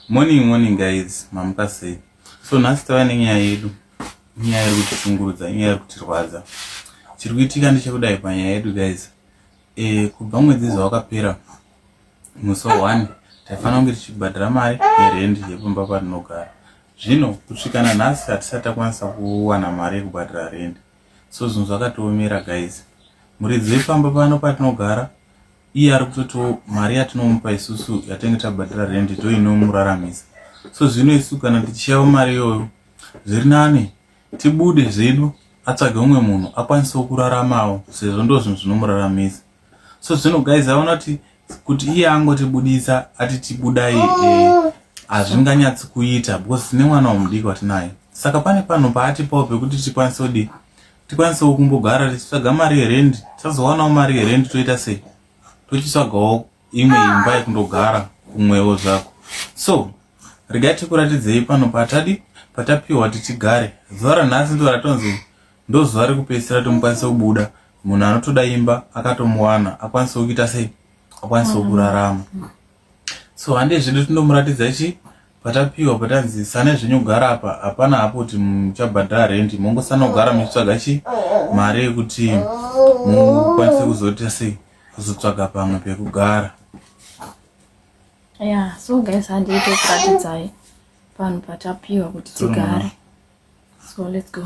Morning morning guys, mamuka sei? So nhasi tava nenyaya yedu, nyaya iri kutishungurudza, nyaya iri kutirwadza. Chiri kuitika ndechekudai panyaya yedu guys. E, kubva mwedzi izvo wakapera musi one taifanira kunge tichibhadhara mari yerendi yepamba patinogara. Zvino kusvika nanhasi hatisati takwanisa kuwana mari yekubhadhara rendi. So zvinhu zvakatiomera guys. Muridzi wepamba pano patinogara iye ari kutotiwo mari yatinomupa isusu yatenge tabhadhara rendi ndo inomuraramisa so zvino isu kana tichiyavo mari iyoyo zviri nani tibude zvedu atsvage umwe munhu akwanisewo kuraramawo sezvo ndo zvinhu zvinomuraramisa so zvino guys aona kuti kuti iye angotibudisa ati tibudai eh, hazvinganyatsi kuita because tine mwana wamudiki watinaye saka pane panhu paatipawo pekuti tikwanise kudi tikwanisewo kumbogara tichitsvaga mari yerend tisazowanawo mari yerend toita sei tochitsvagawo imwe imba yekundogara kumwewo zvako so regai tikuratidzei pano patadi patapiwa tichigare zuva ranhasi ndo ratonzi ndozuva rekupedzisira tomukwanisa kubuda munhu anotoda imba akatomuwana akwanisewo kuita sei akwanisewo kurarama so hande zvedu tinomuratidza chi patapiwa patanzi sane zvenyu kugara apa hapana hapo kuti muchabhadhara rendi mongosanogara muchitsvaga chi mari yekuti mukwanise kuzoita sei kuzotsvaga pamwe pekugara ya so guys handei tokuratidzai panhu patapiwa kuti tigare So let's go.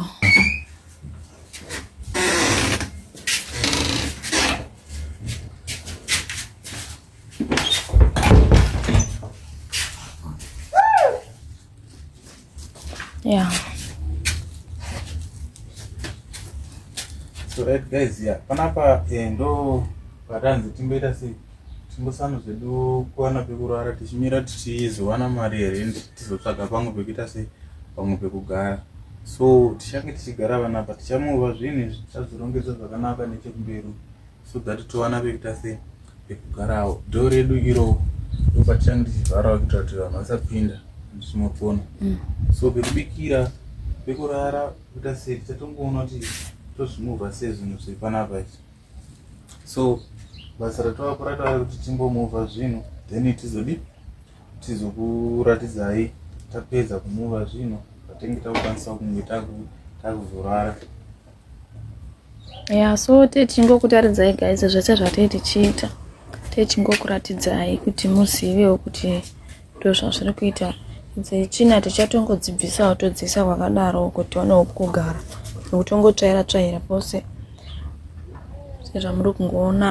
Yeah. So right guys, yeah. Panapa eh, ndo patanzi timboita sei? Timbosana zvedu kuwana pekurara tichimira tichizowana mari yerent tizotsvaga pamwe pekuita sei pamwe pekugara so tichange tichigara vana apa tichamova zvinhu izvi tichazvirongedza zvakanaka nechekumberi so that towana pekuita sei pekugarawo dho redu iro ndopatichange tichivharawo kuitira kuti vanhu vasapinda ndichimopona mm. so pekubikira pekurara kuita sei tichatongoona kuti tozvimova sei zvinhu zviri panapa izvi so basa ratava kurata vari kuti timbomuva zvino then tizodi tizokuratidzai tapedza kumuva zvino patenge takukwanisa kunge takuzorara ya so tee tichingokutaridzai guys zvese zvatee tichiita tee tichingokuratidzai kuti muzivewo kuti Ndozvazviri kuita dzetsvina tichatongodzibvisawo todziisa kwakadaro uko tionewo kugara nekutongotsvaira tsvaira pose sezvamuri kungoona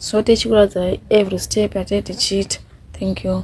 so tichikuratidza every step yatai tichiita thank you